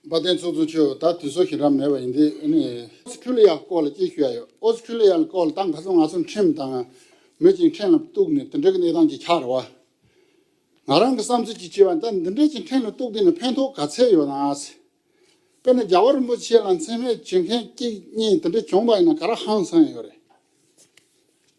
དཔའ་བརྟན་ཚུགས་ཚུགས་ཆོས་ད་དུས་སོ་ཞིག་རབ་མེད་པ་ཡིན་དེ་ཨོ་སི་ཁྲུ་ལི་ཡ་སྐོར་ལ་ཅིག་ཞུ་ཡ་ཡོད་ཨོ་སི་ཁྲུ་ལི་ཡ་སྐོར་ལ་ད་ག་ཚོད་ང་ཚོ་ཁྲིམས་དང་མི་གཅིག་ཕྲན་ལ་གཏུགས་ནས་དེ་འདྲ་གི་གནས་སྟངས་ཅིག་ཆགས་རེ་བ། ང་རང་གི་བསམ་ཚུལ་ཅིག་བྱས་པ་ད་འདི་འདྲ་ཅིག་ཕྲན་ལ་གཏུགས་དེ་ནི་ཕན་ཐོག་ག་ཚད་ཡོད་ནའ། དཔེར་ན་རྒྱ་བོད་རིན་པོ་ཆེ་ལ་མཚན་སྨད་བྱེད་མཁན་གཅིག་གཉིས་དེ་འདྲ་བྱུང་བ་ཡིན་ན་ག་ར་ཧང་སང་ཡོད་རེད།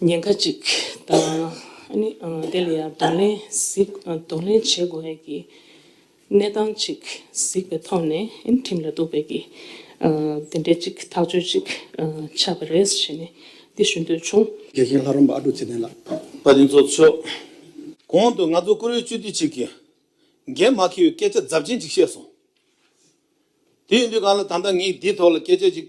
ཉེན་ཁ་ཅིག་དང། དེ་ལ་ཡང་གདོང་ལེན་བྱེད་དགོས་ངེས་ཀྱི་གནས་སྟངས་ཅིག་གཟིགས་པའི་ཐོག་ནས་ཁྲིམས་ལ་གཏུགས་པའི་གི་དེ་འདྲའི་ཅིག་ཐག་གཅོད་ཅིག་ཆགས་པ་རེད་ཞེས་ནས་འདི་ཞུ་འདོད་བྱུང། དགེ་རྒན་ལྷ་རམས་པ་ཨ་ཀྲུག་ཚེ་བརྟན་ལགས། པ་དེ་ཚོ་མཆོག། གོང་དུ་ང་ཚོ་བཀུར་འོས་སྤྱི་འཐུས་ཅིག་གིས། འགན་མ་འཁྱེར་བའི་སྐད་ཆ་རྫབ་ཆེན་ཅིག་བཤད་སོང། དེ་ཡིན་དུས་གང་ལ་ད་ལྟ་ངས་འདིའི་ཐོག་ལ་སྐད་ཆ་ཅིག་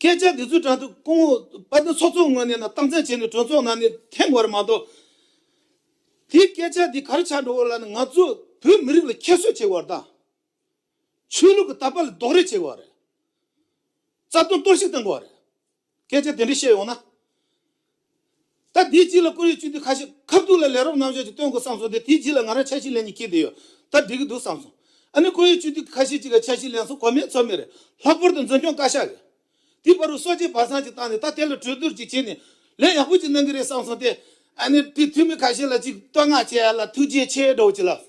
སྐད་ཆ་འདི་ཚོ་དྲ་ཚོགས་སྐུ་ངོ་པ་ཚོ་ཚོགས་གཙོ་ངོས་ནས་ན་སྟངས་བཙན་བྱས་ནས་གྲོས་ཚོགས་ནང་ནས་ཐེངས་བར་མ་གཏོགས་དེའི་སྐད་ཆ་འདི་གར་ཆགས་འགྲོ་བ་ལ་ནི་ང་ཚོ་བོད་མི་རིགས་ལ་ཁྱད་གསོད་བྱེད་བར་དང། ཆོས་ལུགས་ཀྱི་ལྟ་བ་ལ་རྡོག་རེ་བྱེད་བར་རེད། རྩ་དོན་གཏོར་བཤིག་བཏང་བར་རེད། སྐད་ཆ་དེ་འདྲ་བཤད་ཡོང་ན། ད་དེའི་རྗེས་ལ་ཀུ་རེའི་བཅུད་འདི་ཁ་ཤས་ཁབ་ཐུག་ལ་ལས་རོབ་རྣམ་གཞག་ཅིག་སྟོན་དགོས་བསམ་སོང་སྟེ་དེའི་རྗེས་ལ་ང་རང་ཆ་ཤས་ལེན་གྱི་ཁེལ་བསྡད་ཡོད་ད་འགྲིག་གི་འདུག་བསམ་སོང། ཨ་ནི་ཀུ་རེའི་བཅུད་འདི་ཁ་ཤས་ཅིག་ག་ཆ་ཤས་ལེན་སོང་གོ་མེད་ཚོར་མེད་རེད། ལྷག་པར་དུ་འཛིན་སྐྱོང་བཀའ་ཤག་གིས། དེའི་བར་རུ་སོ་ཆའི་བར་སངས་ཅིག་བཏང་ནས་ད་དེ་ལ་གྲོས་བསྡུར་ཅིག་བྱས་ནས། ལན་ཡག་པོ་ཅིག་གནང་གི་རེད་བསམ་སོང་སྟེ། ཨ་ནི་དེའི་འཐུས་མི་ཁ་ཤས་ལ་ཅིག་བསྟོད་བསྔགས་བྱས་ཡ་ལ་ཐུགས་རྗེ་ཆེ་སྒྲོག་ཅིག་ལབ།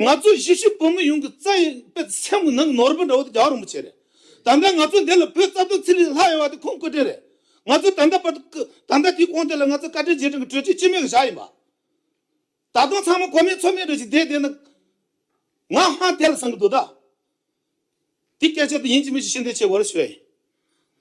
ང་ཚོ་གཞིས་བྱེས་བོད་མི་ཡོངས་ཀྱི་རྩ་ཡི་དཔེ་སེམས་ཀྱི་ནང་ནོར་བུ་འདྲ་བོ་དེ་རྒྱ་བ་རིན་པོ་ཆེ་རེད། ད་ལྟ་ང་ཚོ་འདི་ལ་བོད་རྩ་དོན་ཚིག་ལྷད་ལྷག་ཡོད་པ་དེ་ཁོང་བཀའ་དྲིན་རེད། ང་ཚོ་ད་ལྟ་བར་དུ་བཀའ་ད་ལྟ་དེའི་དགོངས་དེ་ལ་ང་ཚོ་བཀའ་དྲིན་རྗེས་དྲན་གྱི་གྲོས་ཆོད་སྤྱི་མེས་ཀྱི་བཞག་ཡིན་པ། ད་དུང་ཚང་མ་གོ་མེད་ཚོར་མེད་འདྲ་ཞིག་བསྡད་བསྡད་ན། ང་ཧང་དེ་ལ་བསམ་གྱི་འདུག་ད། དེ་སྐད་ཆ་དེ་ཡིན་གྱི་མིན་ཞིག་ཤེས་འདོད་ཆེ་གོ་རེ་ཞུ་ཡ་ཡིན།